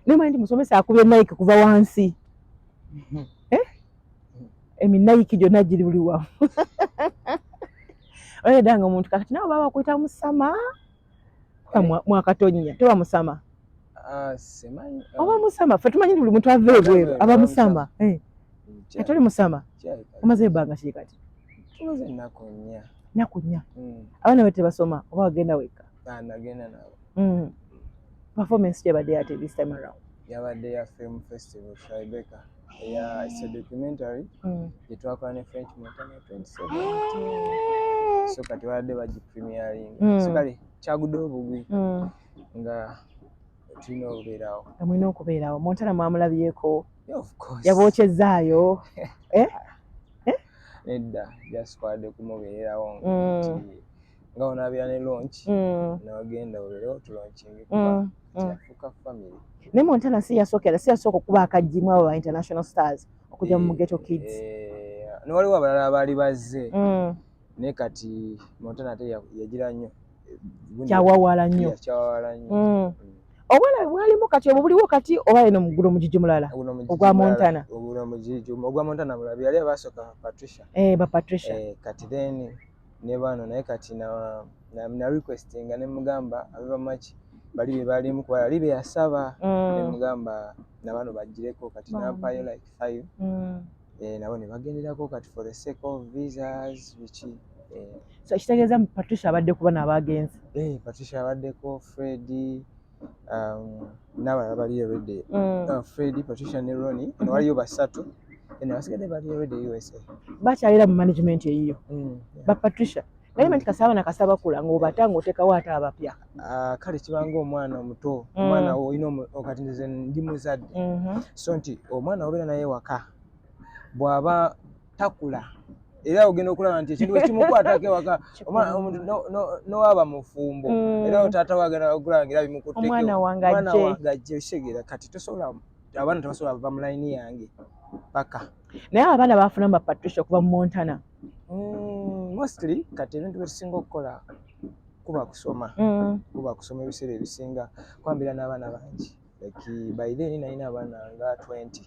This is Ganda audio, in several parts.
naye manyi nti musomesa akubye nike kuva wansi mhm. eh? eminayiki gyonna giri buli wamu oledanga omuntu kakati nawe baba bakuyita musama mwakatonnya toba musama ah, ah. oba musama fe tumanyi buli muntu ava ebweru aba musama eh. atoli musama omaze ebanga kiri kati naku nnya hmm. abaana be tebasoma oba wagenda wekka ah, hmm. performance gyebadde yate this time around yabadde ya film festival tribeka Yeah, it's a documentary mm. gyetwakola ne French Montana 2017 so kati baadde bagi premiering mm. so kale kyagudde obugwi mm. nga tulina okubeerawo nga mulina okubeerawo Montana mwamulabyeko yabookyezaayo eh? eh? nedda jasitwade kumubeererawo mm. nga onaabira ne lonki mm. newagenda olero tulonkinge mm, kuba mm. kyafuuka family naye montana si yasookera si yasooka okuba akajjimu abo ba international stars okujja mu mugeto eh, kids eh, newaliwo abalala abaali bazze naye kati montana ate yagira nnyo kyawawala nnyo kyawawala nnyo obwala bwalimu kati obwo buliwo kati oba eno mugulo mugigi mulala ogwa montana ogwa montana mulabi yali abasooka patricia eh, ba patricia kati then ne bano naye kati na, na, na requestinga ne mugamba abe bamaki bali be balimu kuba yali beyasaba mm. ne mugamba na bano bajjireko kati nampayo like five mm. eh, nabo ne bagenderako kati for the sake of visas biki eh. so kitegeeza patricia abaddeko bana abagenzi eh, patricia abaddeko fredi n'abalala baliyo redi mm. uh, fred patricia ne roni mm-hmm. waliyo basatu abasigadde baliyo redi usa bakyalira mu management eyiyo mm, ba patricia naye manti kasaba na kasaba kula ng'obata ng'otekawo ate abapya ah, kale kibanga omwana omuto mm. omwana olina okati nze ndi muzadde mm-hmm. so nti omwana obeera naye waka bw'aba takula era ogenda okulaba nti ekintu ekimukwatako ewaka nowaba mufumbo mm. era otaata wagenda okulaba ngaera bimukutekeomwana wange ajje kitegeera kati tosobola abaana tebasobola bava mu layini yange paka naye abaana bafuna mu bapatricia okuva mu montana mm, mostly kati ebintu byetusinga okukola kuba kusoma mm. kuba kusoma ebiseera ebisinga kwambira n'abaana bangi like by then nalina abaana nga 20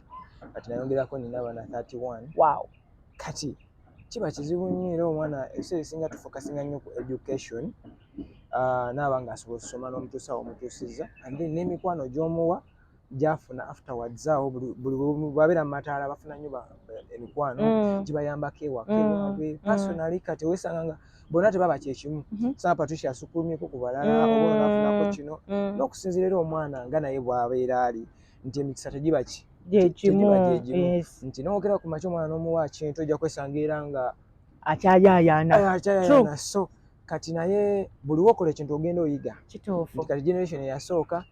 kati nayongerako nina abaana 31 wow kati kiba kizibu nnyo era omwana ebiseera esinga tufokasinga nnyo ku education ah, naaba nga asobola okusoma n'omutuusa omutuusiza and then n'emikwano gy'omuwa gyafuna afterwards awo buli babeera mu mataala bafuna nnyo emikwano mm. gibayambako ewaka mm. ewabwe mm. personally kati wesanga nga bonna tebaba kyekimu mhm. saa patricia asukulumyeko ku balala mm. oba nafunako kino mm. n'okusinzira era omwana nga naye bwabeera ali nti emikisa tegiba ki gyegimu nti nowogera ku makya omwana n'omuwa kintu ojja kwesanga era nga akyayayaana eh, so kati naye buli wokola ekintu ogenda oyiga kituufu nti kati generation eyasooka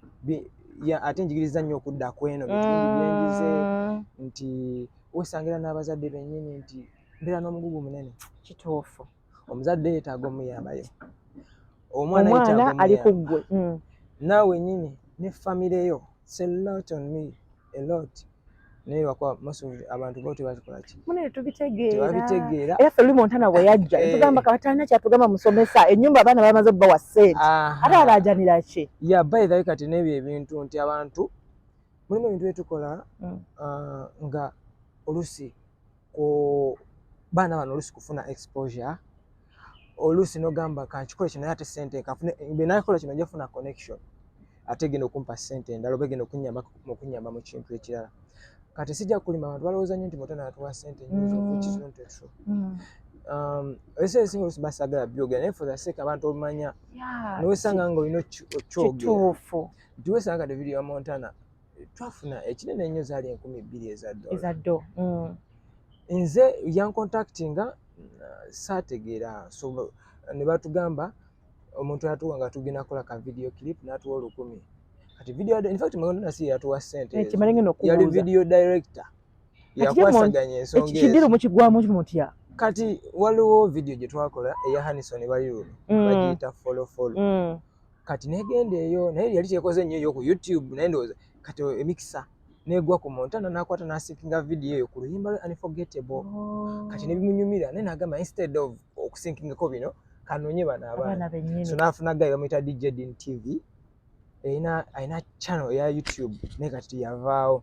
ate njigiriza nnyo okudda kweno bitundu byenjize mm. nti wesangira n'abazadde bennyini nti mbeera n'omugugu munene kituufu omuzadde yeetaaga omuyambayo omwana ali ku ggwe mm. naawe nyini ne famire yo selot on me elot naye lwakuba most of abantu bo tebakikolaki munene tubitegeera era ffe luli montana bwe yajja eh. tugamba kabatalina kyatugamba musomesa ennyumba abaana bamaze obbawa sente ate alaajanira ki ya bayithawe kati n'ebyo ebintu nti abantu mulimu ebintu byetukola mm. ah, nga olusi ku baana bano oluusi kufuna exposure oluusi nogamba kankikole kino naye ate sente nkafune benakola kino nja kufuna connection ate genda okumpa sente endala oba genda okunyamba mukunyamba mu kintu ekirala kati sijja kulima abantu balowooza nyo nti muto natuwa sente nyinzokizontetro ese esinga oluusi basagala byogera naye for the sake abantu obumanya nowesanga nga olina okyogera nti wesanga kati video ya montana twafuna ekinene ennyo zaali enkumi ebbiri eza ddo mm. nze yankontakti nga uh, saategeera so ne batugamba omuntu yatuwa nga tugenda kukola ka video clip n'atuwa olukumi kati video in fact muganda nasi yatuwa sente eh, yali video director yakwasaganya ensonga kidiro mukigwamu mutya kati waliwo video gye twakola eya Hanison Baliru mm. bagiyita follow follow mm. kati negenda eyo naye yali tekoze nnyo eyo ku youtube naye ndowooza kati emikisa negwa ku montana nakwata nasinkinga vidiyo eyo ku luyimba lwe unforgettable oh. kati nebimunyumira naye nagamba instead of okusinkingako bino kanonye bano abaana so nafuna gayi bamuyita dj din tv erina alina channel eya youtube naye kati yavaawo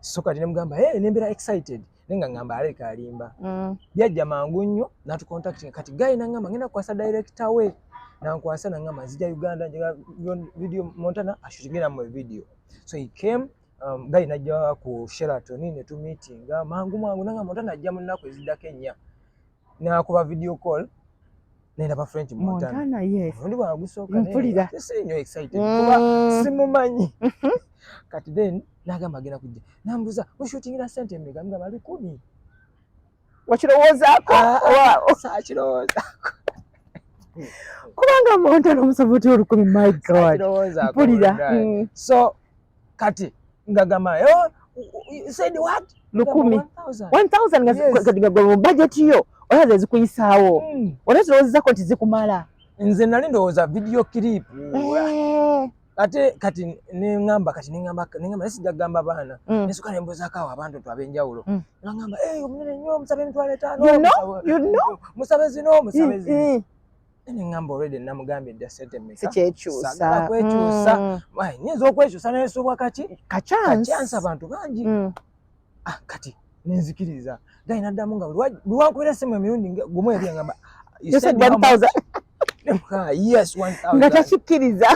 so kati ne mugamba hey, ne mbeera excited naye nga ngamba aleka alimba mm. byajja mangu nnyo natucontactinga kati gayi nangamba ngenda kukwasa director we nankwasa nangamba nzija uganda njega video montana ashutingira mu video so he came um, gayi najja ku sheraton netumitinga mangu mangu nangamba montana ajja mu nnaku eziddako ennya nakuba video call nendaba french montana ondi bwagusookasinyo excited mm. kuba simumanyi mhm. kati then nagamba agenda kujja nambuza mushutingira sente emega mugamba ali kumi wakirowoozako ah, ah, sakirowoozako kubanga montana omusaba otya olukumi my god mpulira mm. so kati ngagamba oh, said what lukumi 1000 nga yes. kati nga gwe budget yo oya ze zikuyisawo mm. oya zo zako tizikumala nze nali ndowoza video clip mm. Eh. ate kati ne ngamba kati ne ngamba ne ngamba sija gamba bana mm. ne suka ne mboza kawa abantu tu abenjawulo mm. na ngamba eh hey, mnene nyo msabe mtwale tano you know you know msabe zino msabe zino mm. mm. ne ŋŋamba olwedde namugambye dda sente mekasagala kwekyusa mm. nyinza okwekyusa nayesubwa kaki kacyansi abantu bangi mm. ah, kati nenzikiriza gayi naddamu nga lwankubira simu emirundi gumu eri ŋamba nga takikkiriza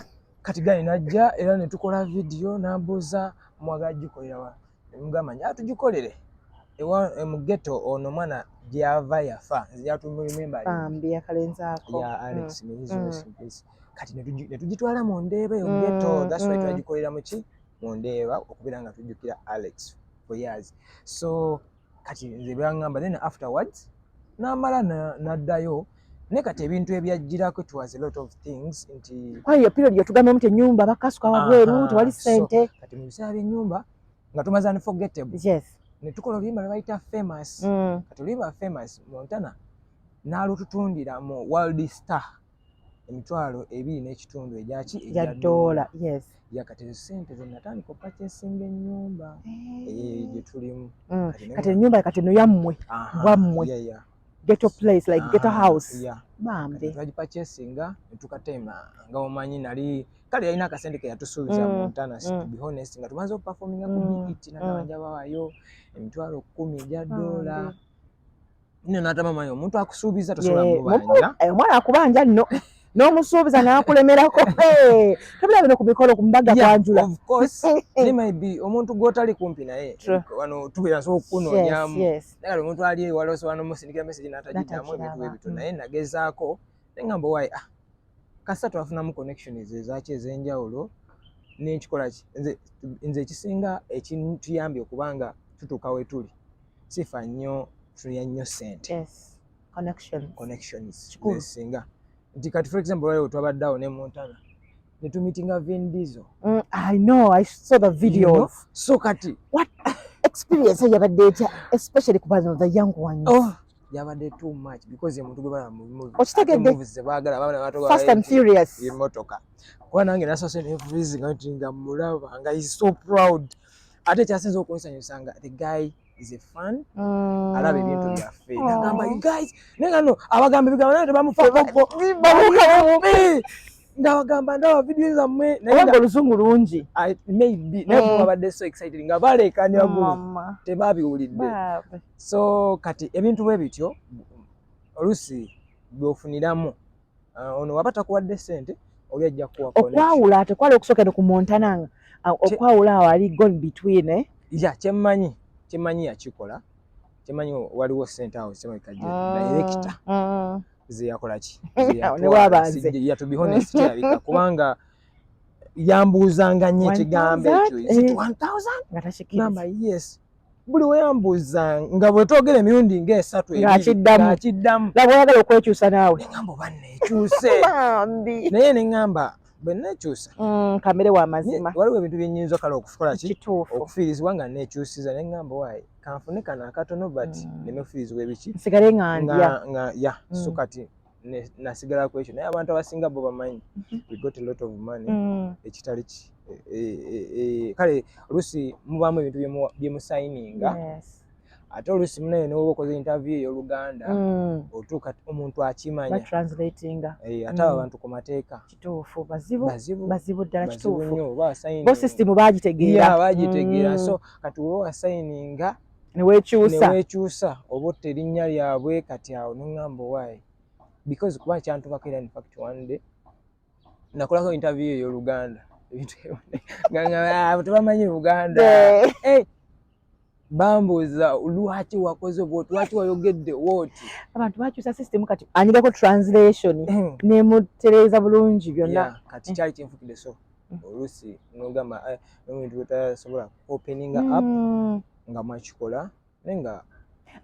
kati gayi najja era netukola vidiyo nambuuza mwagala gikolerawa mugamba nti atugikolere ewa e, mu ghetto ono mwana gyava yafa nze gyatumirimemba bambi akalenzi ako ya Alex mm. miyizi mm. rest in peace kati netugitwala mu ndeeba eyo mm, ghetto mm. that's why mm. twagikolera mu ki mu ndeeba okubeera nga tujjukira Alex for years so kati nze byangamba then afterwards namala naddayo naye kati ebintu ebyajjirako it was a lot of things nti kwani yo period yatugamba nti enyumba bakasuka wabweru tewali sente kati mu biseera by'enyumba nga tumaze unforgettable yes ne tukola oluyimba lwe bayita famous mm. kati oluyimba famous montana n'alututundira mu world star emitwalo ebiri n'ekitundu egyaki egya doola yes yakati sente zenatandika opacesinga enyumba eh. gyetulimu mm. kati enyumba kati no yammwe bwammwe ghetto place like ghetto ah, house bambi twagipacesinga netukatema nga omanyi nali kale yalina akasente keyatusuubiza mm. muntana mm. to be honest nga tumaze okupafominga ku biiti nagabanja bawayo emitwalo kumi egya doola nno natama mayi omuntu akusuubiza tosobola mubanja eh, omwana akubanja nno n'omusuubiza n'akulemerako tobira bino ku mikolo ku mbaga kwanjula omuntu gw'otali kumpi naye wano tubeera nsobola okukunoonyamu nagala omuntu ali ewala osobola n'omusindikira mesegi n'atagiddamu ebintu bwe bityo naye nagezaako naye ngamba wayi ah kasita twafunamu connection ezaki ez'enjawulo n'enkikola ki nze ekisinga ekituyambye okuba nga tutuuka wetuli sifa nnyo tuya nnyo sente connectionsinga nti kati for example waliwo twabadde awo ne montana netumitinga vin dizo mm, i know i saw the video you know? so kati what experience yabadde etya especially kubano the young ones oh. yabadde too much because omuntu gwe balaba mubimuzebaagala baana batobaemotoka kuba nange nasose nevulizinga nti nga mulaba nga is so proud ate kyasinza okunsanyusa nga the guy is a fan mm. alaba ebintu byaffe oh. nagamba you guys naye nga no abagamba ebigambo naye tebamufakoko ndabagamba ndaba vidiyo zammwe nayega olusungu lungi maybe naye mm. babadde so excited nga baleekanya gu tebabiwulidde so kati ebintu bwe bityo oluusi byofuniramu Ah, ono waba takuwadde sente oli ajja kuwa okwawula ate kwali okusookera ku montana nga ah, okwawula awo ali gone between eh? ya kyemmanyi kyemmanyi yakikola kyemmanyi waliwo sente awo kyemabika je ah, directa zeyakolaki yatubihonestkirabika kubanga yambuuzanga nyo ekigambo ekyo eh. nga takikiamba yes buli weyambuuza nga bwetwogera emirundi nga esatu akiddamu laba oyagala okwekyusa naawe neŋamba oba nekyuse naye neŋamba bwe nekyusa mm, kamere wa mazima waliwo ebintu byenyinza kale okukola ki okufiirizibwa nga nekyusiza neŋamba waayi kanfune kano akatono but mm. nemefiirizibwa ebiki nsigale nga ndya ya so mm. kati nasigala ku ekyo naye abantu abasinga bo bamanyi mhm. we got a lot of money mm. ekitali ki e, e, e, kale oluusi mubaamu ebintu byemusayininga ate oluusi munaye newoba okoze interview eyoluganda mm. otuuka omuntu akimanya ate abo mm. abantu ku mateeka kituufu bazibu bazibu ddala kituufu bo system bagitegeera bagitegeera so kati woba wasayininga newekyusa oba otta erinnya lyabwe kati awo noŋamba owaayi because kuba kyantubako era infact one day nakolako interview eyo oluganda tebamanyi luganda eh, bambuuza lwaki wakoze bwoti lwaki wayogedde woti abantu bakyusa system kati anyigako translation eh. nemutereeza bulungi byonna kati kyali kinfukidde so oluusi nogamba eh, nomuntu wetasobola opening up mm. nga mwakikola naye nga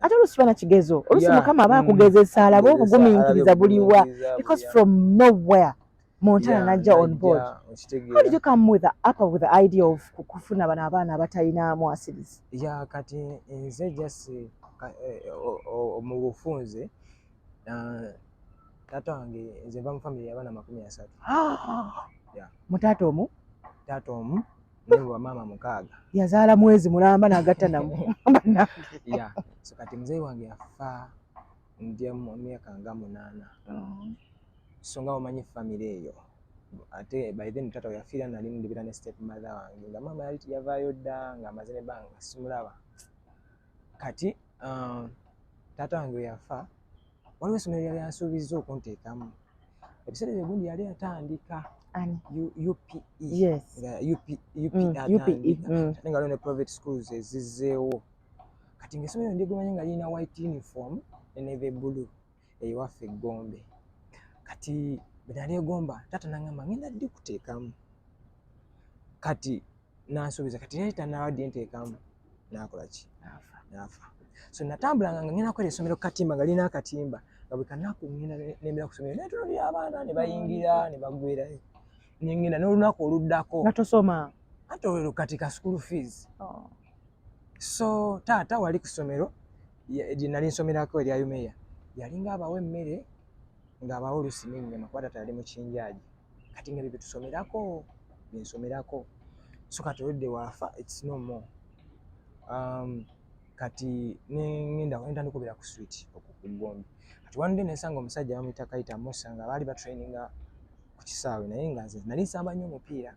ate oluusi bana kigezo oluusi mukama aba akugezesa mm. alabe obugumiikiriza buliwa because from nowhere montana najja on board how did you come with the upper with the idea of kufuna bano abaana abatalina mwasirizi ya kati nze just eh, mu bufunze Uh, taata wange nze nva mu famire yabaana makumi asatu ah! mu taata omu taata omu nebo bamaama mukaaga yazaala mwezi mulamba nagatta namu ya so kati muzeeyi wange yafa ndya mu myaka nga munaana oh. so nga wamanyi famire eyo ate by then taata weyafiira nali ndibira ne step mother wange nga maama yavaayo dda nga amaze ne banga simulaba kati uh, taata wange yafa waliwo essomero lyali ansuubizza okunteekamu ebiseera ebyo gundi yali atandika upe naye nga ne private schools ezizzeewo kati ngaessomero ndigumanye nga lirina white uniform neve blue ewaffe eggombe kati bwenali egomba taata nangamba ngenda ddi kuteekamu kati nansuubiza kati yali tanaba ddi nteekamu nakola ki naafa so natambulanga nga ngenda kwera essomero kukatimba nga lina akatimba nga buli kanaku ngenda nembera ku somero naye tulabira abaana ne bayingira ne bagwerayo nengenda n'olunaku oluddako nga tosoma ate olwo kati ka school fees oh. so taata wali ku somero gye nali nsomerako erya yumeya yalinga abawa emmere ng'abawa olusi n'ennyama kuba taata yali mukinjaaji kati nga bye bitusomerako bye nsomerako so kati oludde waafa its no more um, kati nenda nenda ndikubira ku street okukugombi kati one day nesanga omusajja bamuyita kayita musa nga baali batraininga ku kisaawe naye nga nze nali nsamba nnyo omupiira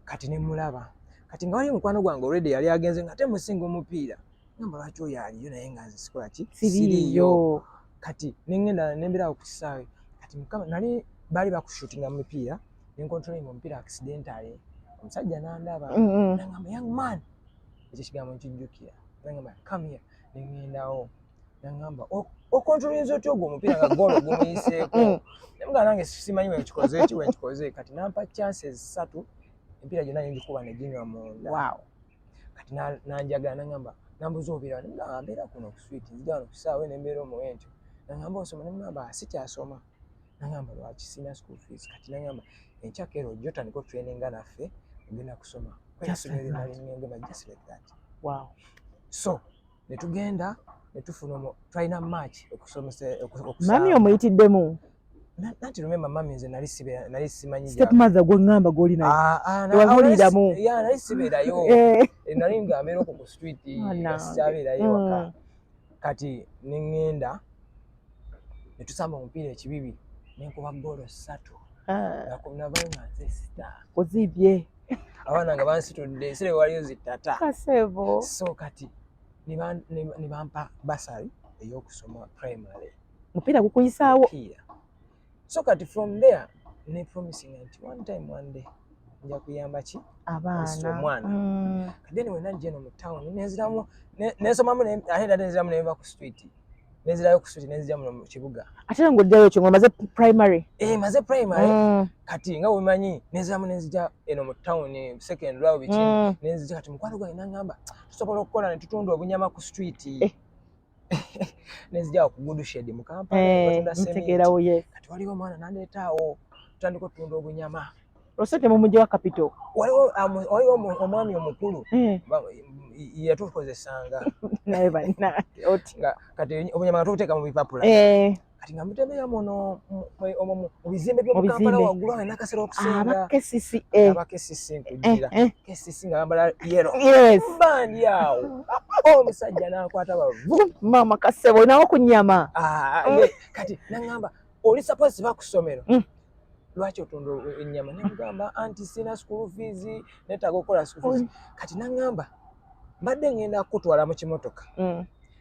kati nemulaba kati nga waliyo mukwano gwange already yali agenze nga ate musinga omupiira nyamba lwaki oyo aliyo naye nga nze sikola ki siriyo kati nengenda nemberawo ku kisaawe kati mukama nali baali bakushutinga mu mipiira nenkontrolinga omupiira accidentale omusajja nandaba mm-hmm. nangamba young man ekyo kigambo nkijjukira nangamba come here nengendawo nangamba oh, okontrolinza otya ogwo omupiira nga goolo gumuyiseeko mm. namugaa nange simanyi wenkikoze ki wenkikoze kati nampa chances satu empiira gyonna nengikuba neginywa munda kati nanjaga nangamba nambuza obira nambera kuno kuswit nzija wano kusaawe nembeera omuwe ntyo nangamba osoma nemugamba sikyasoma nangamba lwaki sina school fees kati nangamba enkyakero ojja otandika otraininga naffe ogenda kusoma kweyasomereralingengema just like that wow so ne tugenda ne tufuna omu tulina match okusomesa okusaba mami omuyitiddemu nanti lumemba mami nze nali sibe nali simanyi step mother gwe ngamba goli na ah ah na wazulira mu ya nali sibe da yo eh. eh nali ngamero ku street ya sibe da yo kati ningenda ne tusamba omupiira ekibibi ne nkuba ggoolo ssatu ah. nga ku nava nga nze sita ozibye abaana nga bansitudde sire waliyo zitata kasebo so kati ne bampa basari ey'okusoma primary mupiira gukuyisaawo so kati from there ne promising nti one time one day nja kuyamba ki abaana omwana mm. kati then wena njeno mu town nenziramu nensomamu ate nda nenziramu neva ku street nenzirayo ku street nenzira muno mu kibuga ate ngo ddayo kyo maze primary eh maze primary mm. kati nga wemanyi nenziramu nenzija eno mu town second row bichi mm. nenzija kati mukwano gwa inangamba tusobola okukola ne tutundu obunyama ku street eh. nezija okugudu shedi mukampala eh, ntegeerawo ye kati waliwo omwana nandeetaawo tutandika otunda obunyama ose temumujewa kapito waliwo um, waliwo omwami omukulu eh. yatukozesanga naye banna kati obunyama nga tubuteeka mu bipapula eh. kati nga mutembeya muno mu bizimbe byomukampala waggulu awo nina kasera okusinga aba kcc nkugira eh, eh. kcc nga bambala yero bandi awo omusajja nakwata bavu mama kasebo nawo ku nyama ah, kati nangamba oli suppose bakusomero mm. lwaki otunda enyama nemugamba anti sina school fees netaga okukola school fees kati nangamba mbadde ngenda kukutwala mu kimotoka mm.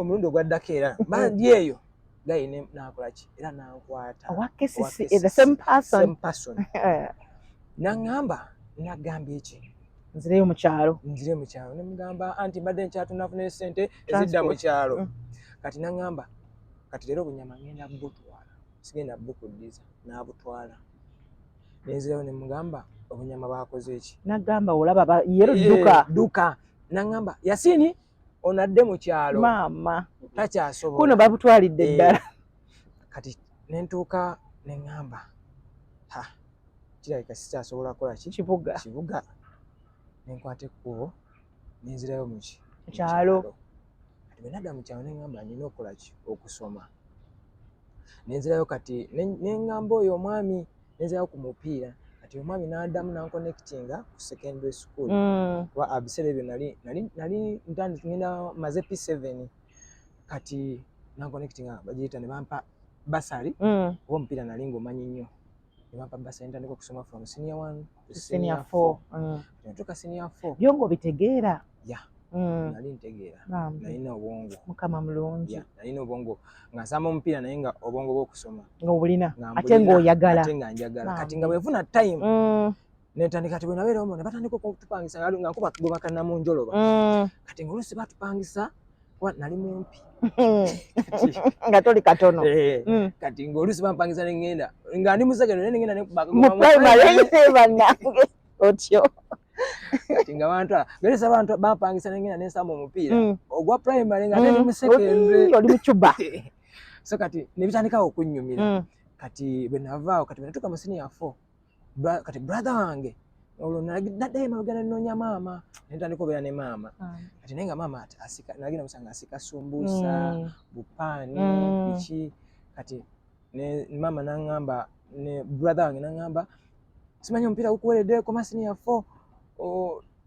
omulundi ogwaddako era bandi eyo gayi nakolaki era nankwata naŋamba nagamba eki nzireyo mukyalo nzire mukyalo nemugamba anti mbadde nkyatunafuna esente ezidda mukyalo mm. kati naŋamba kati leero obunyama ngenda butwala sigenda bukuddiza nabutwala nenzirayo nemugamba obunyama bakoze eki nagamba olaba yeruduka eh, duka nangamba yasini ono adde mu kyalo maama takyasobola kuno babutwalidde eh, ddala kati nentuuka ne ŋŋamba ha kirabika sikyasobola kukola ki kibuga kibuga ne nkwata ekkubo ne nzirayo mu ki kyalo kati bwe nadda mu kyalo ne ŋŋamba nina okukola ki okusoma ne nzirayo kati ne ŋŋamba oyo omwami nenzirayo ku mupiira kati omwami n'adamu nankonekitinga ku secondary school mm. kuba mm. abiseera ebyo nali nali nali ntandika ngenda maze p seven kati nankonekitinga bagiyita ne bampa basali mm. oba omupiira nali ng'omanyi nnyo ne bampa basali ntandika okusoma from senior one senior 4 mm. tuka senior 4 byongo bitegeera yeah mm. nali ntegeera nalina obwongo mukama mulungi yeah. nalina obwongo nga nsamba omupiira naye nga obwongo bwokusoma nga obulina ate nga oyagala ate nga njagala kati nga bwefuna time mm. netandika kati bwenabeeraomo ne batandika okutupangisa nga nkuba bwebakana mu njoloba mm. kati nga olusi batupangisa kuba nali mumpi nga toli katono eh, mm. kati ngaoluusi bampangiza nengenda nga ndi musegero naye nengenda nekubakamuprimarybanange otyo kati nga bantu geresa bantu bampangisa nengenda nensamba omupiira mm. ogwa primary nga nali mm. musekendoli mucuba so kati nebitandikawo okunyumira kati bwenavaawo kati bwenatuka musiniya four kati brother wange olwo naddayo emabega nenoonya maama nentandika obeera ne maama ah. kati naye nga maama asika nagenda musanga asika sumbuusa mm. bupaani mm. biki kati maama nangamba ne brother wange nangamba simanyi omupiira gukuweredde koma siniya four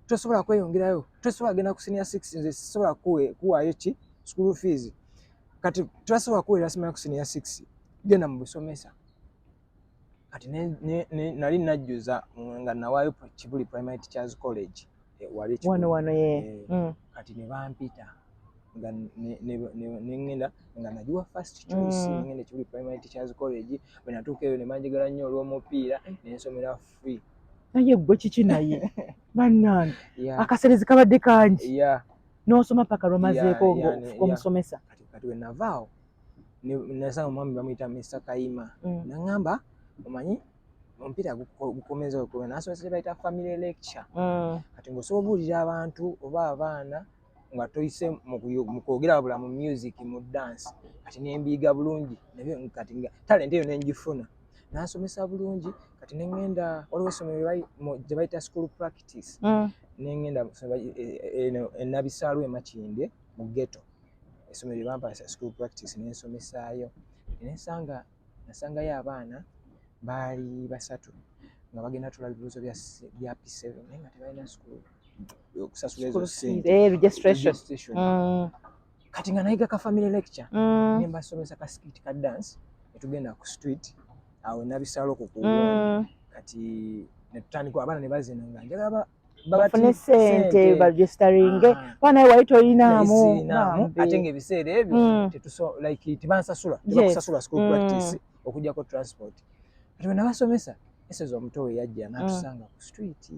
tosobola kweyongerayo tosobola kugenda ku siniya six nze sisobola kuwaayo ki school fees kati turasobola kuweerera simanyi ku siniya six genda mu busomesa kati nali najjuza nga nawaayo kibuli primary teachers college eh, wano wano ye eh, mm. kati ne bampita nga nengenda nga nagiwa first choice mm. nengenda kibuli primary teachers college bwe natuuka eyo ne banjagala nnyo olw'omupiira nensomera free naye gwe kiki naye bannange akaserezi kabadde kangi n'osoma paka lwamazeeko ng'omusomesa kati wenavaawo nasanga omwami bamuyita mr kayima mm. naŋamba omanyi omupiira gukomeza okuba nasomesa kyebayita family lecture mm. kati ngaosobola obuulira abantu oba abaana nga toyise mu kwogera wabula mu music mu dance kati nembiiga bulungi nabyo kati nga talenti eyo nengifuna nasomesa bulungi kati nengenda waliwo essomero gye bayita school practice mm. nengenda eh, eh, eno enabisaalwa emakinde mu ghetto essomero lye bampasa school practice ne nsomesaayo ne nsanga nasangayo abaana baali basatu nga bagenda tula bibuuzo bya P7 naye nga tebalina school okusasula ezo sente eh, registration mm. kati nga nayiga ka family lecture mm. ne mbasomesa ka skit ka dance ne tugenda ku street awo nabisala okukuwa mm. kati ne tutandika abaana ne bazina nga njagala bafune sente bagisitaringe ah. kuba naye wali toyinaamu ate ngaebiseera ebyo hmm. tebansasula tebakusasula school hmm. practice okujjako transport kati wenabasomesa esozi omuto we yajja hmm. natusanga ku street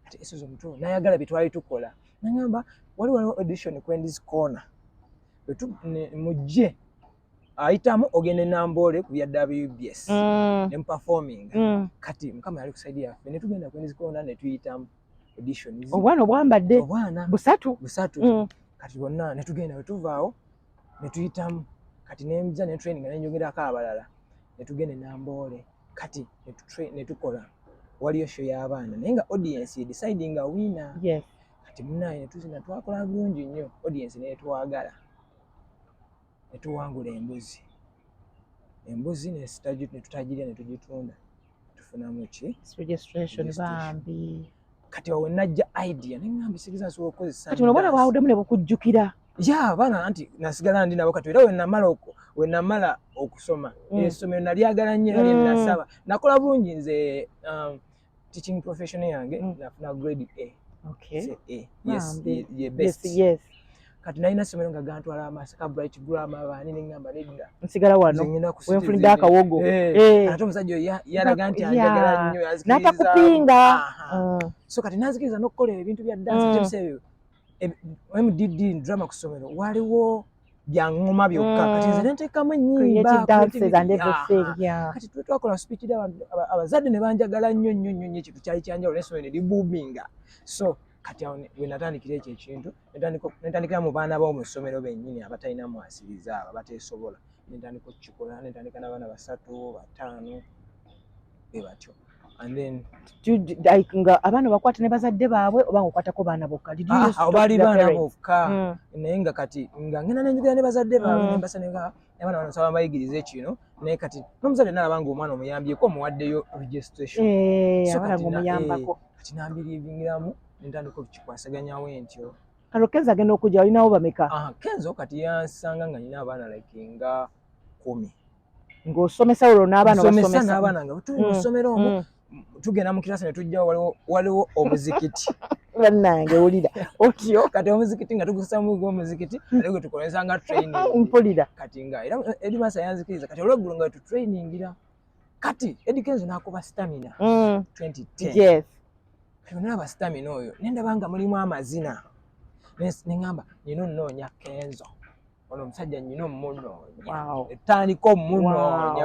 ati esozi omuto nayagala byetwali tukola nagamba wali waliwo audition kwendiz corner mujje ayitamu ogenda e Namboole ku bya WBS mm. ne muperforminga mm. kati mukama yali kuside yaffe ne tugenda ku nzikona ne tuyitamu auditions obwana obwambadde obwana busatu busatu mm. kati bonna ne tugenda wetuvaawo ne tuyitamu kati ne nja ne training ne njogerako abalala ne tugenda e Namboole kati ne tukola waliyo show y'abaana naye nga audience ye deciding a winner yes. kati munaye ne tuzina twakola bulungi nnyo audience netwagala ne tuwangula embuzi embuzi netutagirya ne tugitunda tufunamu ki kati awo najja idea neŋambi sigiriza nsobola okukozesa kati olabona bwawuddemu ne bukujjukira ya abaana anti nasigala ndi nabo kati era wenamala wenamala okusoma mm. esomero nalyagala nnyo era lyenasaba mm. nakola bulungi nze um, teaching profession yange mm. nafuna grade A okay so A yes ye, ye best yes, yes. kati nalina somero nga gantwala amasaka bright grammar bani ne ngamba nedda nsigala wano wenfunidde akawogo eh, eh. ate omusajja oyo yalaga nti anjagala nnyo natakupinga mm. so kati nazikiriza n'okukola ebintu bya dance mm. mdd drama ku somero waliwo bya ngoma byokka kati nze mm. nentekamu ennyimbaati twetwakola sipikira abazadde ne banjagala nnyo nnyo nnyo nnyo ekintu kyali kyanjawulo nensoma ne libuuminga so kati awo we natandikira ekyo ekintu nentandikira mu baana bawo mu ssomero bennyini abatalina mwasiriza abo abateesobola nentandika okukikola nentandika n'abaana basatu bataano be batyo nga abaana bakwata ne bazadde baabwe oba nga okwatako baana bokka ah, ah, baali baana bokka hmm. naye nga kati nga ngenda nenjogera ne bazadde baabwe hmm. nembasa nenga abaana bano nsaba mbayigirize kino naye kati nomuzadde nalaba nga omwana omuyambyeko omuwaddeyo registration eh, so kati eh, nambiriingiramu nentandika okukikwasaganyawo entyo kalo kenzo agenda okujja olinawo bameka ah, kenzo kati yansanga nga nina abaana like nga kumi ng'osomesa olwo n'abaana obasomesa n'abaana nga tuli mu mm, ssomero omu mm. tugenda mu kirasi ne tujjawo waliwo waliwo omuzikiti bannange wulira otyo kati omuzikiti nga tugusesa mu gwo omuzikiti naye gwe tukozesa nga training mpulira kati nga era eri masa yanzikiriza kati olweggulo nga tu trainingira kati Eddie Kenzo n'akuba stamina 2010 mm. yes kati nalaba stamina oyo nendaba nga mulimu amazina nengamba nina onoonya kenzo ono omusajja nyina omunooyaetandika omunoonya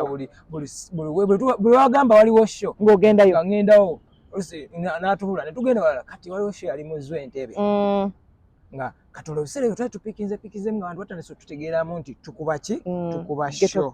buli wagamba waliwo sho ngaogendayo angendawo natubula netugenda wala kati waliwo sho yali muzwa entebe mm. nga kati olwo ebiseera ebyo twali tupikinze pikinze nga bantu batandise otutegeeramu nti tukuba ki mm. tukuba sho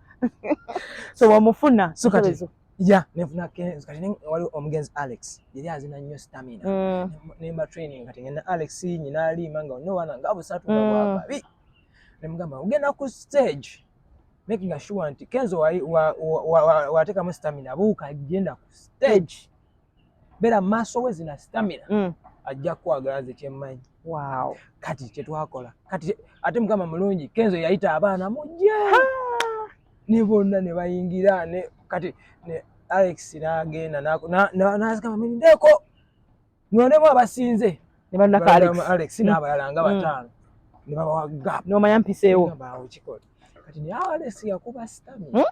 so wamufuna so kati ya nefuna kenzo kati wali omugenzi alex yali azina nnyo stamina mm. nemba training kati ngenda alex nyina alima nga no wana nga busatu nga mm. bwababi nemugamba ogenda ku stage making sure nti kenzo watekamu stamina buuka genda ku stage beera mu maaso we zina sitamina mm. ajja kukwagala nze kyemmanyi kati kyetwakola kati ate mukama mulungi kenzo yayita abaana mujje ne bonna ne bayingira ne kati ne alex n'agenda nazigamba mirindeko nonemu abasinze ne bannaka alex mm. n'abalala nga mm. bataano ne babawa gap nomanya mpiseewo kati naye alex yakuba sitamina hmm?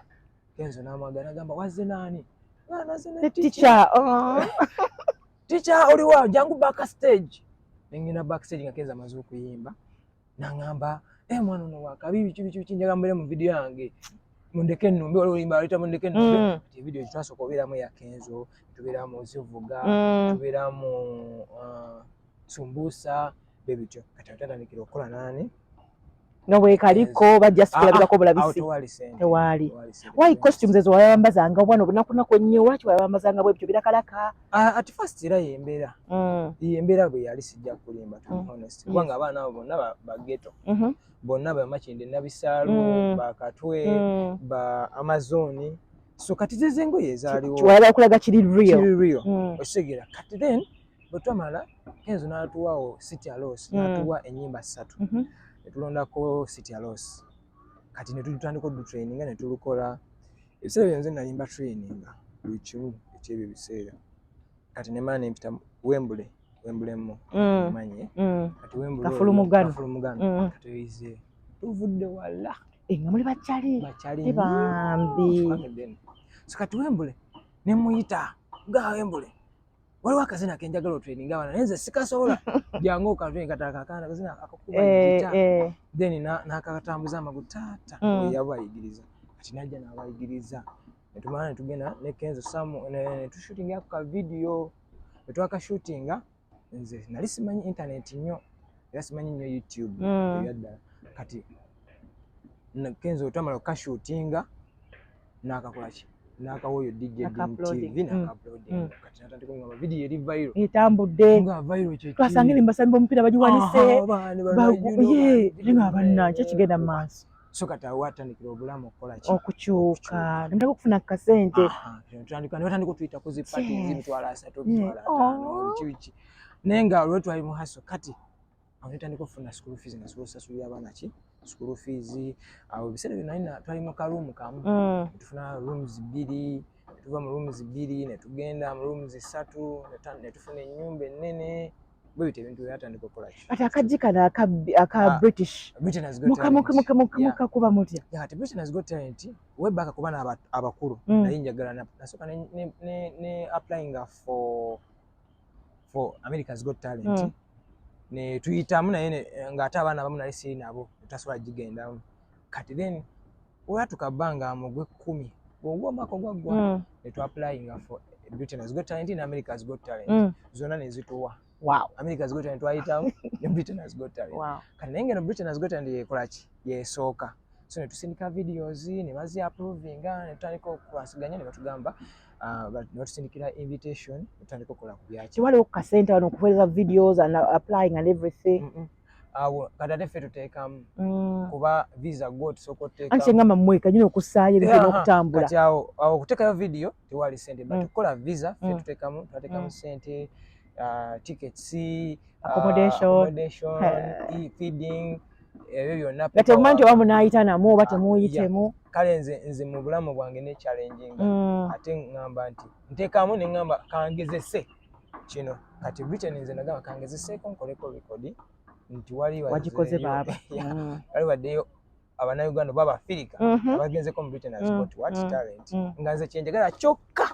kenzo namwagala nagamba wazze naani ticha oh. ticha oliwa jangu back stage nengenda back stage nga kenzo amaze okuyimba nangamba e eh, mwana ono wakabi biki biki biki njaga mbeere mu vidiyo yange mundeke numbe waliwo olimba aleta mundeke numbe mm. ti evidiyo gitwasooka obeeramu eya kenzo tubeeramu zivuga mm. tubeeramu uh, sumbusa bye bityo kati atandikira okukola nani nga bwekaliko bajja sikulabirako ah, ah, bulabisi ah, tewaali why costumes ezo wayawambazanga obwana obunakunaku ennyo lwaki wayawambazanga bwebityo birakalaka at first era yembeera mm. yembeera bwe yali sijja kulimba to mm. honest kubanga abaana abo bonna bageto mm-hmm. bonna bamakinde nabisaalu mm. bakatwe ba amazoni so kati zezengoye ezaaliwo wayaba okulaga kiri real kiri real okitegera kati then bwe twamala kenzo n'atuwawo city alos mm. n'atuwa ennyimba ssatu mm-hmm. ne tulondako city alos kati ne tutandika odutraininga ne tulukola ebiseera byonze nalimba traininga buli kimu ekyebyo ebiseera kati ne maana empita wembule wembulemu mm. manye mm. kati wembulekafulumugano kati oyize tuvudde wala eh, nga muli bakyali eh, bambi so kati wembule ne muyita ga wembule waliwo akazina kenjagala otraininga abana naye nze sikasobola jangu okatraining kata kakana akazina akakuba eh, gita eh. then nakakatambuza amagu taata mm. yabayigiriza kati najja nabayigiriza netumala netugenda ne kenzo samu netushootinga ku kavidiyo netwakashootinga nze nali simanyi internet nnyo era simanyi nnyo youtube mm. ebyaddala kati kenzo twamala okukashootinga nakakola ki nakawo yo DJ TV na mm. upload mm. kati natandika ngaba video eri viral etambudde nga viral kye twasanga ni mbasambi omupira bajiwanise ye ninga abanna kye kigenda maaso so kati awo atandikira obulamu okukola ki okukyuka nemutaka okufuna kasente tandika nebatandika otuyita ku zipati zimitwalo asatu mitwalo ataano oh. kibiki naye nga olwetwali mu haso kati awo netandika okufuna school fees nga sobola osasulira abaana ki school fees awo ebiseera byo nalina twali mu ka room kamu mm. tufuna rooms bbiri tuva mu rooms bbiri netugenda mu rooms ssatu netufuna ennyumba ennene bwe bityo ebintu byatandika okukola ki ati akajji kano aka aka ah, british britain has got muka muka muka muka muka kuba mutya ya ati britain has got talent we back kuba na abakulu mm. naye njagala na nasoka ne ne ne applying for for America's Got Talent mm. ne tuyitamu naye ng'ate abaana abamu nali siri nabo tasobola gigendamu kati then olwatuka bbanga mu gw'ekkumi ogwo omwaka ogwaggwa mm. ne tu applyinga for Britain's Got Talent in America's Got Talent mm. zonna ne zituwa wow. America's Got Talent twayitamu ne Britain's Got Talent wow. kati naye ngeno Britain's Got Talent yekola ki yesooka so ne tusindika videos ne bazi approvinga ne tutandika okwasiganya ne batugamba Ah, notusindikira invitation otandika okukola ku byaki tewaliwo ku kasente wano okuweereza videos and applying and everything mm -mm. awo kati ate ffe tuteekamu mm. kuba visa go tusooka oteeka anti engamba mmwe kanyini okussaayo ebintu n'okutambula kati awo okuteekayo vidiyo tewali sente but mm. okukola visa ffe mm. tuteekamu tubateekamu sente uh, tickets uh, accommodation, uh, accommodation uh, feeding ebyo byonna temumanyi nti oba munaayita namu oba ah, temuyitemu kale nze nze mu bulamu bwange ne challenginga mm. ate ŋŋamba nti nteekaamu ne ŋŋamba kangezese kino kati britain nze nagamba kangezeseeko nkoleko rekodi nti wali wagikoze baaba mm. wali waddeyo abanauganda oba abafirika mm-hmm. abagenzeko mu britain has mm. got what mm. talent nga nze kyenjagala kyokka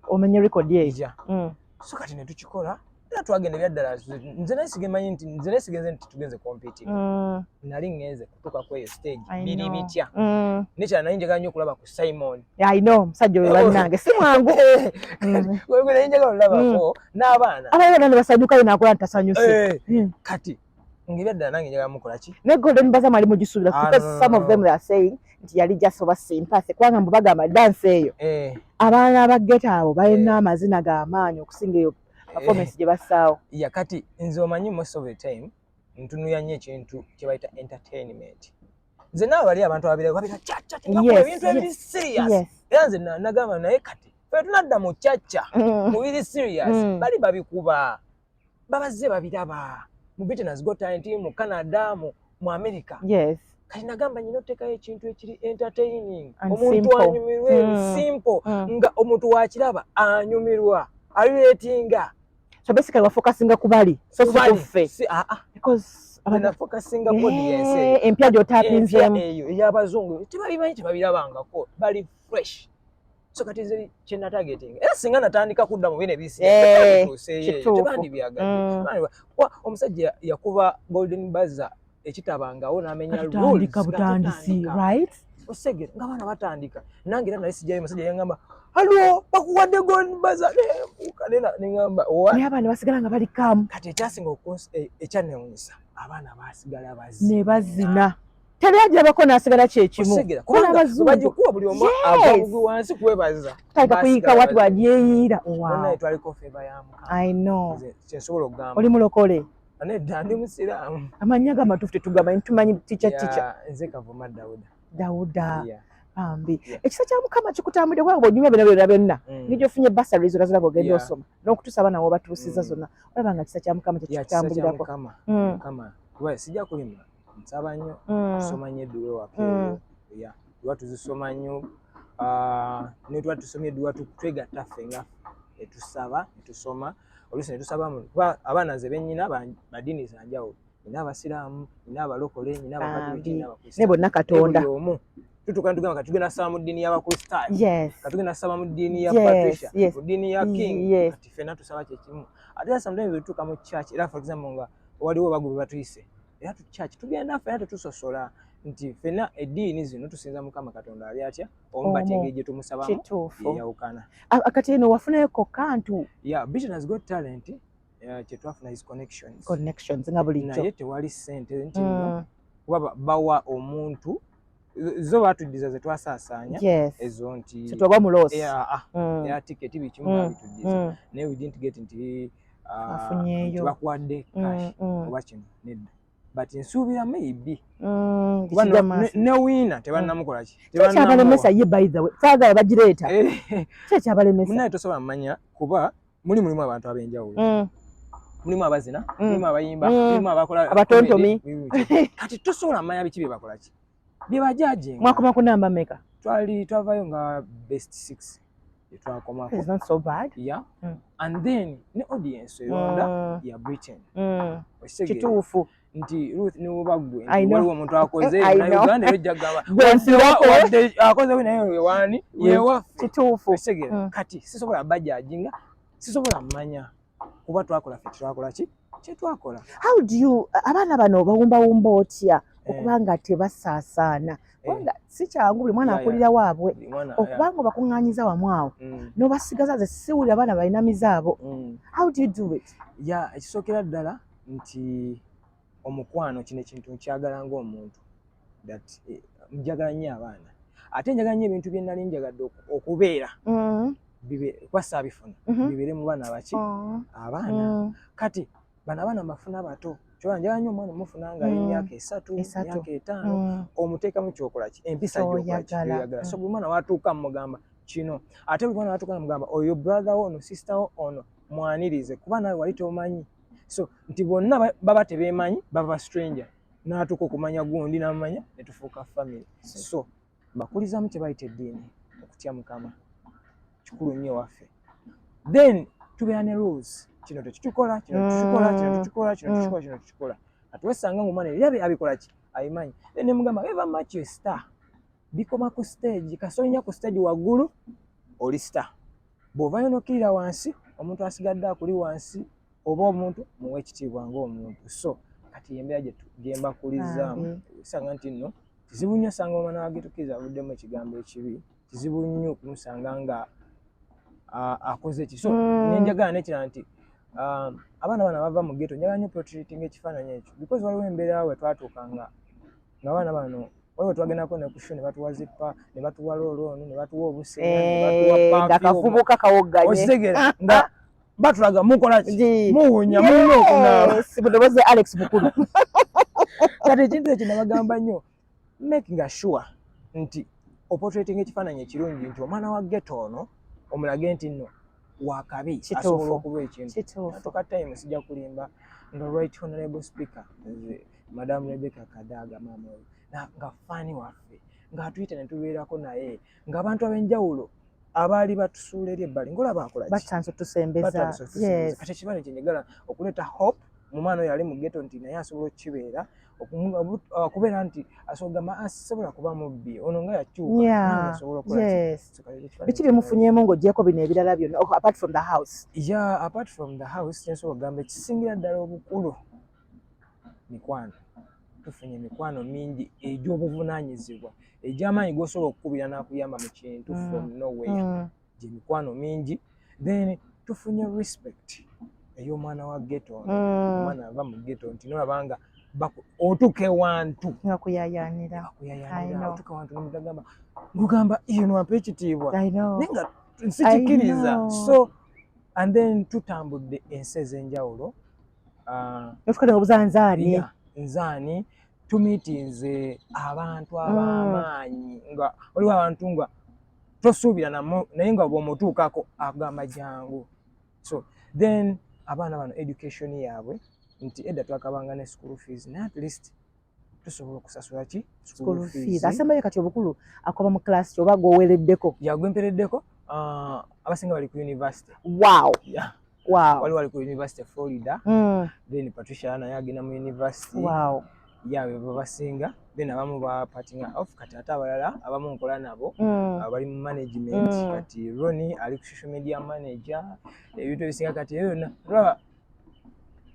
omenye record ye ija mm. so kati ne tukikola era twagenda ebyaddala nze naye sigemanyi nti nze naye sigenze nti tugenze competi mm. nali ngenze kutuuka kweyo stage biri bitya mm. nekyala naye njagala nyo okulaba ku simon ino omusajja oyo balinange si mwangu naye njagala olabako n'abaana abaana ne basanyukayo nakola nti tasanyuse eh, kati ngibya ddala nange njagala mukola ki ne golden baza mwali mugisuubira ah, because some of them they are saying nti yali just oba simpase kubanga mbu bagamba dansi eyo eh. abaana abageta abo balina eh. amazina ga maanyi okusinga eyo eh. performance gye bassaawo ya kati nze omanyi most of the time ntunuya nnyo ekintu kye bayita entertainment nze naawe bali abantu ababira babira caca ebintu ebiri serious era nze nagamba naye kati fe tunadda mu caca mm. mu biri serious mm. bali babikuba babazze babiraba mu Britain's Got Talent mu Canada mu mu America yes kati nagamba nyina otekayo ekintu ekiri entertaining omuntu anyumirwe mm. simple mm. nga omuntu wakiraba anyumirwa aliretinga so basically wa focusing ku bali so si ku ffe si a ah, a ah. because abana focusing ku audience eh, empya jo tapinze eyo ya bazungu tibabimanyi tibabirabangako bali fresh so kati nze kye natagetinga era singa natandika kudda mu bino ebisitebandibyagadde eh, mm. omusajja yakuba golden baza ekitabangawo namenya butandisi right osegere nga abaana batandika nange era nali sijayo omusajja yangamba halo bakuwadde golden baza nengamba naye abaana basigala nga bali kamu kati ekyasinga eh, ekyanewunyisa abaana basigala bazina ne bazina teri ajabako nasigala kyekimu kubangabazungubajukuwa buli omu agwabugi wansi kwebaza taika kuyika watu wajeyiira oli mulokole nedda ndi musiraamu amannya ga matuufu tetugamanyi tumanyi tica tica nze kavuma dawuda dawuda bambi ekisa kya mukama kikutambulire kubanga bwonyumya byona byona byonna mm. nija ofunye basari zona ziraba ogenda osoma n'okutuusa abaana wobatuusiza mm. zonna olaba nga kisa kya mukama kyekikutambulirako mm. sijja kulima nsaba nnyo mm. tusoma nnyo edduwa ewaka mm. ya duwa tuzisoma nnyo ah, netuba tusomye edduwa twegatta ffe nga netusaba netusoma oluusi netusaba kuba abaana nze benyina badini zanjawulo nina abasiraamu nina abalokole nina abakatuliki nina abakristaayo ne bonna katonda omu tutuka ntugamba kati tugenda saba mu ddiini y'abakristaayo yes. kati tugenda saba mu ddiini ya yes. patricia yes. mu ddiini ya king yes. kati fena tusaba kyekimu ate sometimes otutuka mu church era for example nga waliwo bagu bwe batuyise era tukyaki tugenda ffe era tetusosola nti fena eddiini zino tusinza mukama katonda ali atya omu bati engeri gye tumusabamu yeyawukana kati eno wafunayo kokka ntu ya bitin has got talent eh, kyetwafuna his connections connections nga bulijjo naye tewali sente nti mm. kuba bawa omuntu zo batuddiza ze twasaasaanya ezo nti kitoba muloosi ya ah, mm. tiketi bikimu mm. babituddiza mm. naye we didn't get nti ah, bakuwadde cash oba kino nedda but nsuubira maybe newiina tebannamukola kikyabalemesa ye by the way saagala bagireeta eh. kyekyabalemesa naye tosobola mumanya kuba muli mulimu abantu ab'enjawulo mm. mulimu abazina mm. mulimu abayimba mm. mulimu abakola abatontomi kati tosobola manya biki bye bakola ki bye bajaje mwakoma ku namba meka twali twavayo nga best six twakoma it's not so bad yeah mm. and then ne audience yonda mm. ya britain mm. kituufu nti Ruth ne woba gwe waliwo omuntu akoze eh, na Uganda yo jagaba wadde akoze wina yo wani yewa kituufu mm. kati sisobola bajajinga sisobola manya kuba twakola fe twakola ki kyetwakola how do you abaana bano obawumbawumba otya eh. okuba nga tebasaasaana eh. kubanga si kyangu buli mwana akulira waabwe okuba nga obakuŋŋanyiza wamu awo mm. n'obasigaza ze siwulira abaana balina mizaabo mm. how do you do it ya ekisookera ddala nti omukwano kino ekintu nkyagala ng'omuntu that eh, njagala nnyo abaana ate njagala nnyo ebintu bye nnali njagadde okubeera mm-hmm. kuba saabifuna mm-hmm. bibeere mu baana baki oh. abaana mm. kati bano abaana mbafuna bato kyoba njagala nnyo omwana omufuna nga mm. emyaka esatu emyaka etaano mm. omuteekamu kyokolaki empisa gyoyagala so buli mwana watuuka mugamba kino ate buli mwana watuuka mugamba oyo brother wo ono sister wo ono mwanirize kuba nawe wali tomanyi so nti bonna baba tebemanyi baba stranger natuka okumanya gundi namanya netufuuka family so bakulizamu kyebayita eddiini okutya mukama kikulu nnyo waffe then tubeera ne rules kino tekitukola kino tukikola kino tukikola kino tukikola kino tukikola atwesanga ngaomwana era abikolaki abimanyi then nemugamba eva much star bikoma ku stage kasolinya ku stage waggulu oli star bw'ovayo nokirira wansi omuntu asigadde akuli wansi oba omuntu muwa ekitiibwa ngaomuntu so kati yembeera gyembakulizaamu sanga nti nno kizibu nnyo osanga omwana wagetukiriza avuddemu ekigambo ekibi kizibu nnyo okumusanga nga akoze eki so hmm. nenjagala nekirala nti Um, abaana bana bava mu geto njagala nyo protreating ekifaananyi ekyo because waliwo embeera we twatuuka nga nga abaana bano waliwo twagendako ne kusho ne batuwa zippa ne batuwa loolooni ne batuwa obusengaakavubuka eh, kawogganyekitegeera nga batulaga mukolaki muwunya mulina okunaaba mudobozi alex mukulu kati ekintu ekyo nabagamba nnyo making sure nti opotrating ekifaananyi ekirungi nti omwana wa geto ono omulage nti nno wakabi asobola okuba ekintu atuka time sijja kulimba nga right honorable speaker madamu rebeka kadaaga maama oyo nga faani waffe ng'atuyita ne tubeerako naye ng'abantu ab'enjawulo abaali batusuula eri ebbali ngaolaba akolabatandise otusembeza kati ekibale kye njagala okuleeta hope mu mwana oyo ali mu geto nti naye asobola okukibeera okubeera nti asogamba asobola kuba mubbi ono nga yakyukabiki byemufunyemu ngaogyeko bino ebirala byonna oh, apart from the house ya apart from the house kyensobola okugamba ekisingira ddala obukulu mikwano tufunye emikwano mingi egy'obuvunaanyizibwa egy'amaanyi g'osobola okukubira n'akuyamba mu kintu mm. from nowhere mm. gye mikwano mingi then tufunye respect ey'omwana wa geto mm. omwana ava mu geto nti nolabanga otuke wantu akuyayanira otuke wantu nomugamba gugamba iyo nwampa ekitiibwa naye nga nsikikiriza so and then tutambudde ensi ez'enjawulo ah, nofukade nga buza nzaani nzaani tumitinze abantu mm. abamaanyi nga oliwo abantu nga tosuubira naye nga bwomutuukako agamba jangu so then abaana bano education yaabwe nti edda twakabanga ne school fees naye at least tusobola okusasula ki school fees asembayo kati obukulu akoba mu class oba goweleddeko ya gwempereddeko uh, abasinga bali ku university wow yeah. wow. wali wali ku university florida mm. then patricia naye agenda mu university wow. ya bebo basinga then abamu ba parting off kati ate abalala abamu nkola nabo mm. abali mu management mm. kati roni ali ku social media manager ebintu ebisinga kati eyo yona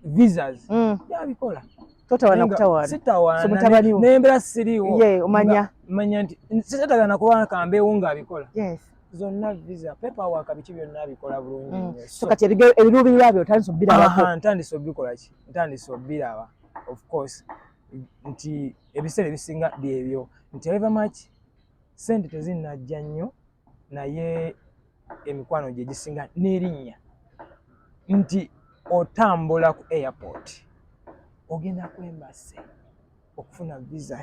visas mm. yabikola totawana kutawana sitawana mutabani wo nembera siriwo ye omanya manya nti sitagala nakuba kambe unga abikola yes zonna visa pepa wa kabiki byonna abikola bulungi mm. so kati ebige ebirubi yabyo tandise obira ba ha tandise obikola ki tandise obira ba of course nti ebisere bisinga byebyo nti ever much sente tezinna jannyo naye emikwano gye gisinga n'erinnya nti otambula ku airport ogenda kwembase okufuna visa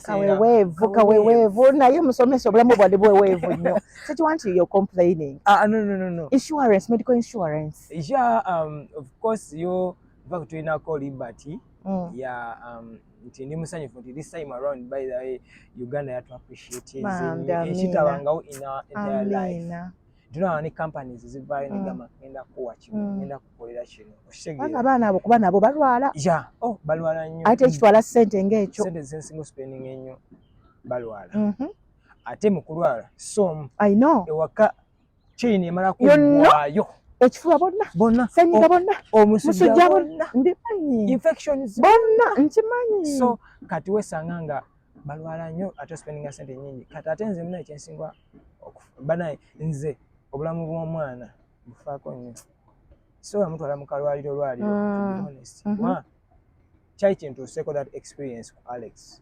kaweweevu kaweweevu naye musomesa obulamu bwali bweweevu nnyo so you want your complaining uh, no, no, no, no. insurance medical insurance yeah um, of course yo va kutulinako liberty mm. ya um, nti ndi musanyufu nti this time around by the way uganda yatu appreciateekitabangawo eh, in our entire life tunawa ne companies zivaayo mm. negamba ngenda kuwa kino mm. ngenda kukolera kino okitegeera abaana abo kuba nabo balwala ya oh balwala nnyo ate ekitwala sente ngaekyo sente zensinga spending ennyo balwala mm-hmm. ate mu kulwala som i know ewaka chain emala ku wayo ekifuba bonna bonna senyiga bonna omusujja bonna mbimanyi infections bonna nkimanyi so kati wesanga nga balwala nnyo ate spendinga sente nyingi kati ate nze muna ekyensingwa banaye nze obulamu bw'omwana bufaako nnyo so amutwala mu kalwaliro lwaliro mm. honest mm -hmm. kyali kintuuseeko that experience ku alex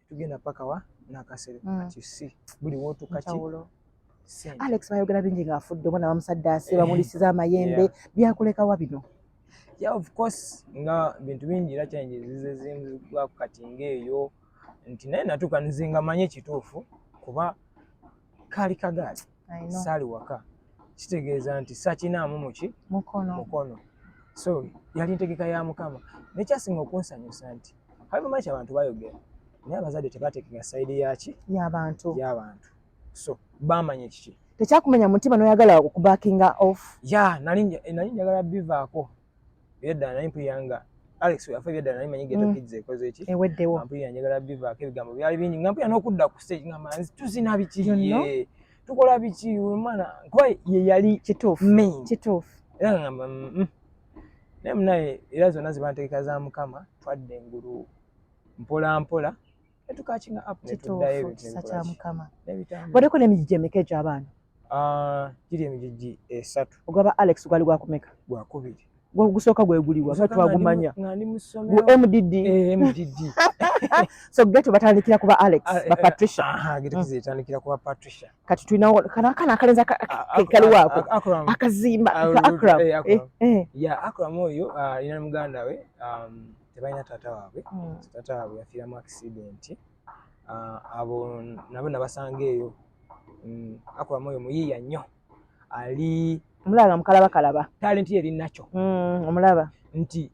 tugenda paka wa nakasere mm. but you see buli wotu kaki Alex bayogera bingi nga afudde omwana bamusaddaase eh. bamulisiza amayembe byakulekawa bino yeah of course nga bintu bingi era challenges zizezimzibwa kati ngaeyo nti naye natuuka nze nga manye kituufu kuba kaali kagaali saali waka kitegeeza nti sakinaamu muki mukono mukono so yali ntegeka ya mukama nekyasinga okunsanyusa nti habimayi kyabantu bayogera naye abazadde tebateekeka sayidi yaki yabantu yabantu so bamanya ekiki tekyakumenya mutima noyagala okubakinga off ya nali njagala bivaako Byedda naye mpulira nga Alex afa byedda naye manyi ghetto mm. kids ekoze ki. Eweddewo. Mpulira njagala biva ke bigambo byali bingi nga mpulira n'okudda ku stage nga manzi tuzina biki ye. Tukola biki umana kwa ye yali kituufu. Kituufu. Era nga mba mm, mm. naye munaye era zonna zibantegeka za mukama twadde engulu mpola mpola netukakinga up kituufu kisa kya mukama wadeko n'emijiji emeka egyo abaana ah, giri emijiji esatu ogwaba alex gwali gwakumeka gwakubiri gwegusooka gweguliwa nga twagumanya gu mdd eh, so geto batandikira kuba alex ah, eh, bapatricia ah, mm. kati tulinawo kana akana akalenzi kaliwaako akazimba ka akram eh, akram oyo alina muganda we um, tebalina taata waabwe hmm. taata waabwe yafiiramu accident ah, abo nabo nabasanga eyo hmm, akula mwoyo muyiiya nnyo ali omulaba nga mukalaba kalaba talenti yeri nakyo hmm, omulaba nti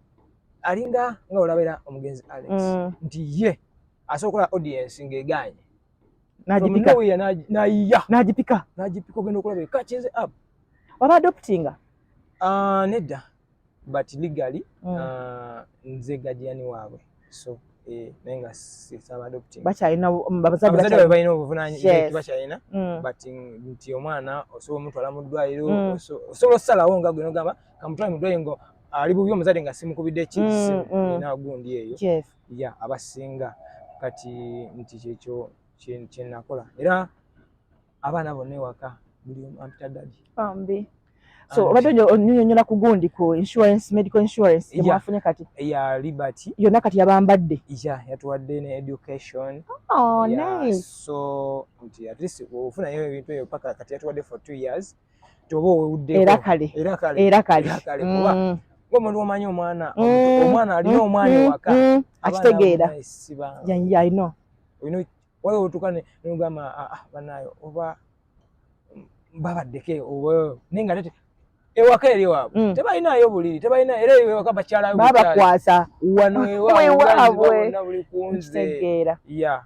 alinga nga olabera omugenzi alex nti ye asobola okola audience ng'egaanye nayiya nagipika nagipika ogenda okulaba ekakinze ab waba adoptinga ah, nedda but legally mm. uh, nze gajani waabwe so eh, naye nga sisaba adopting bakyalina mm, abazadde baabwe balina obuvunaanyizibwa bakyalina mm. but nti omwana osobola omutwala mu ddwaliro mm. osobola okusalawo nga gwe nogamba kamutwale mu ddwaliro nga ali bubi omuzadde nga simukubidde ekisimu mm, mm. ina gundi eyo yes. ya abasinga kati nti kyekyo kyenakola era abaana bonna ewaka buli omu ampita dadi bambi so obadde onyonyola ku gundi ku insurance medical insurance emwafunye kati ya liberty yonna kati yabambadde ya yatuwadde ne education oh, nice. so nti at least ofunayo ebintu ebyo paka kati yatuwadde for two years toba owewuddeko era kale era kale era kale mm. omuntu omanyi omwana mm. omwana alina mm. omwana ewaka akitegeera yeah, yeah, i know wala otuka ne ngama ah, ah banayo oba baba deke owe ninga lete ewa kere wa mm. teba ina yo buliri teba ina ere yo ka bachala yo baba kwasa wano ewa we wa we na buli kunze ya yeah.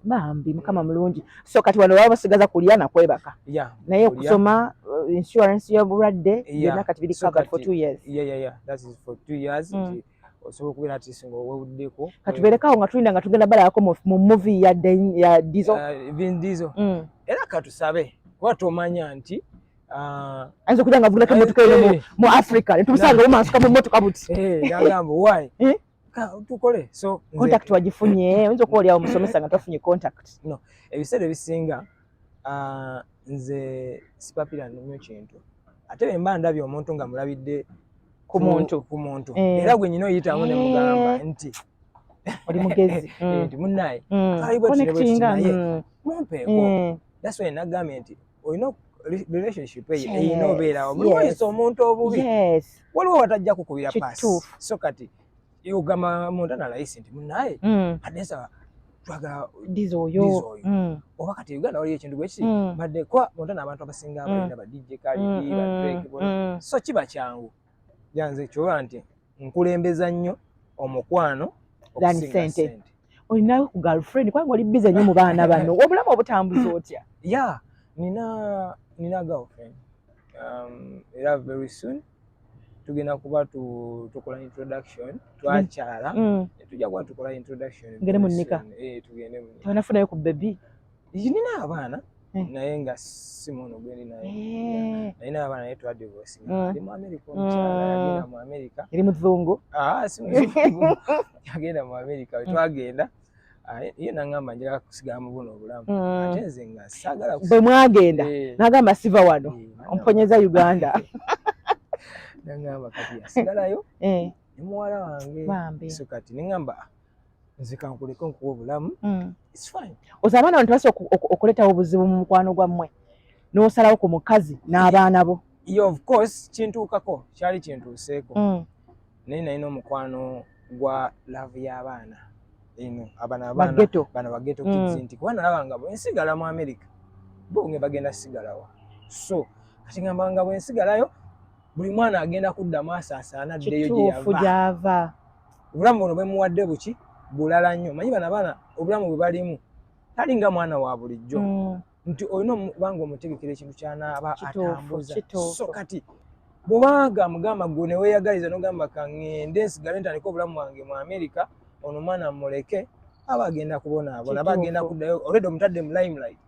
bambi mukama mulungi so kati wano baba basigaza kulya na kwebaka yeah. naye kusoma uh, insurance yo bulwadde yeah. yona kati bili so covered for 2 years yeah yeah yeah that is for 2 years mm. osobola okubeera ati singa owewuddeko katubeerekawo nga tulinda nga tugenda balabako mu muvi ya dizo eh, vin dizo mm. era katusabe kuba tomanya nti ah, ayinza okuja nga avugulako emotoka eno eh, eh. mu africa netumusanga omansuka mu motoka buti agamba wy tukole so contact wagifunye oyinza okuba olyawo musomesa nga twafunye contact no ebiseera ebisinga nze sipapira nnyo kintu ate bwe mba ndabye omuntu nga mulabidde ku muntu ku muntu eh. era gwe nyina oyitamu ne mugamba eh. nti oli mugezi mm. nti munnaye mm. twalibwetinaye mm. mumpeeko that's why nagambye nti olina relationship eyo eyina obeerawo muliwayisa omuntu obubi waliwo watajja kukubira paasi so kati Iyo gama munda na laisi ndi munaye. Mm. Adesa twaga dizo oyo. Dizo oyo. Mm. Oba kati Uganda wali ekintu gwe ki. Mm. Bade kwa munda na abantu abasinga mm. abalina ba DJ kali mm. di ba Drake bona. Mm. So kiba kyangu. Yanze kyoba nti nkulembeza nnyo omukwano okusinga sente. sente. Olinayo ku girlfriend kwa ngoli bize nnyo mu baana bano. Obulamu obutambuza otya? Yeah. Nina nina girlfriend. Um, era very soon. tugenda kuba tukola introduction twakyala mm. tujja kuba tukola introduction ngere mu nika eh, tugende mu nika nafunayo ku bebi nina abaana eh. naye nga simuno gwendi naye eh. naye n'abaana naye twadivosi mm. ali mu amerika omukyala mm. yagenda mu amerika eri muzungu ah, yagenda mu amerika wetwagenda Ah, ye nangamba njagala kusigala mu buno obulamu mm. ate nze nga sagala bwe mwagenda eh. nagamba siva wano eh, omponyeza uganda nangamba kati asigalayo eh. ne muwala wange so kati nengamba nze kankuleko nkuwa obulamu mm. oza abaana bantu basa okuletawo obuzibu mu mukwano gwammwe n'osalawo ku mukazi n'abaana bo ye of course kintuukako kyali kintuuseeko mm. naye nalina omukwano gwa laavu y'abaana eno abanabaana bageto mm. kids nti kuba nalaba nga bwensigala mu america bo nge bagenda sigalawa so kati ngamba nga bwensigalayo buli mwana agenda kudda maaso asaana ddeyo gyeyava obulamu buno bwemuwadde buki bulala nnyo manyi bana baana obulamu bwe balimu tali nga mwana wa bulijjo mm. nti olina okuba nga omutegekera ekintu kyanaaba atambuza so kati bwobanga mugamba gwe neweyagaliza nogamba kangende nsigale ntandika obulamu bwange mu amerika ono omwana muleke aba agenda kubonaabona aba agenda kuddayo olwedde omutadde mu limelight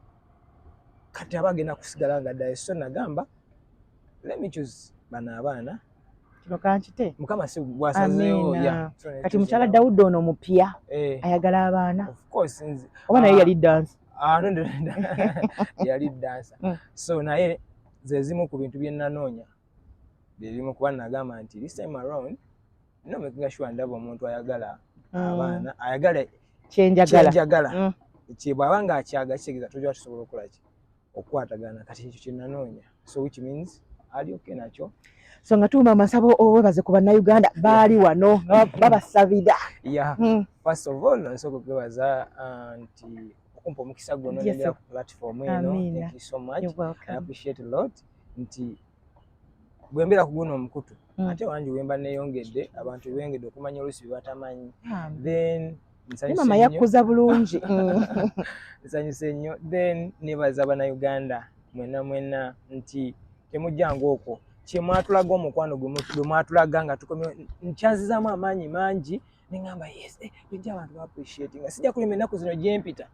kati aba agenda kusigala nga ddayo so nagamba lemichus bano abaana kino kankite mukama si gwasazeewo kati mukyala dawudi ono omupya eh. ayagala abaana oba naye yali dansi ah, yali dansa mm. so naye zezimu ku bintu byenanoonya byebimu kuba nagamba nti this time around no making sure ndaba omuntu ayagala mm. abaana ayagala kyenjagala mm. kyebwaba nga akyaga kitegeeza toja tusobola okolaki okukwatagana kati ekyo kyenanoonya so which means ali okay nakyo so nga tuuma amasabo owebaze ku bannayuganda baali wano nga babasabira yeah. mm. first of all nsooka okwebaza uh, nti okumpa omukisa guno nendera ku platform eno thank you so much I appreciate a lot nti bwembeera ku guno omukutu mm. ate wangi wemba neyongedde abantu bengedde okumanya olusi bebatamanyi then mama yakkuza bulungi nsanyuse nnyo then nebaza banauganda mwena mwena nti temujjanga okwo kyemwatulaga omukwano gwe mwatulaga nga tukomye nkyanzizamu amaanyi mangi neŋamba yes eh, ejja abantu baappreciati nga sijja kulima ennaku zino gyempita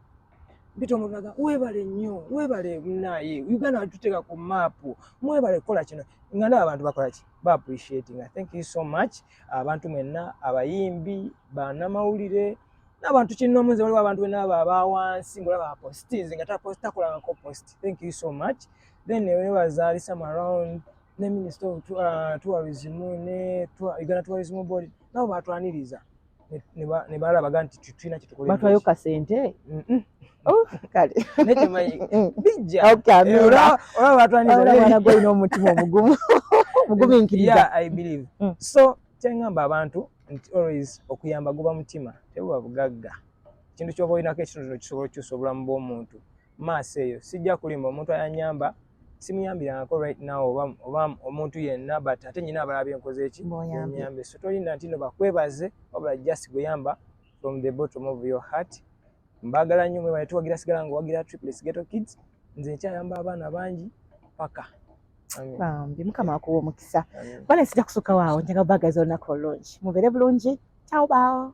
mpita omulaga webale nnyo webale naye uganda watuteeka ku maapu mwebale kukola kino nga naba abantu bakola ki baappreciati nga thank you so much abantu mwenna abayimbi banamawulire n'abantu kinnomu nze waliwo abantu bena abo abawansi ngaolaba apostinze nga takolanako post thank you so much then newebazaalisa mu around ne minister of uh, tourism ne uganda tourism board nabo batwaniriza ne balabaga nti tulina kyetbatwayo kasente oh, kale olina omutima omugumu omuguminkiriza mm. so kyengamba abantu nti always okuyamba guba mutima tebuba bugagga ekintu kyoba olinako ekitundu kisobola okukyusa obulamu bw'omuntu maaso eyo sijja kulimba omuntu ayanyamba simuyambirangako right now oba oba omuntu yenna but ate nyina abalaba byenkoze eki nyambe so tolinda ntino bakwebaze wabula just guyamba from the bottom of your heart mbagala nnyo mwebale tuwagira sigala nga owagira triplets ghetto kids nze nkyayamba abaana bangi paka bambi mukama wakuwa omukisa bale sijja kusuka waawo njaga bagaza olunaku olulungi mubeere bulungi ciao bao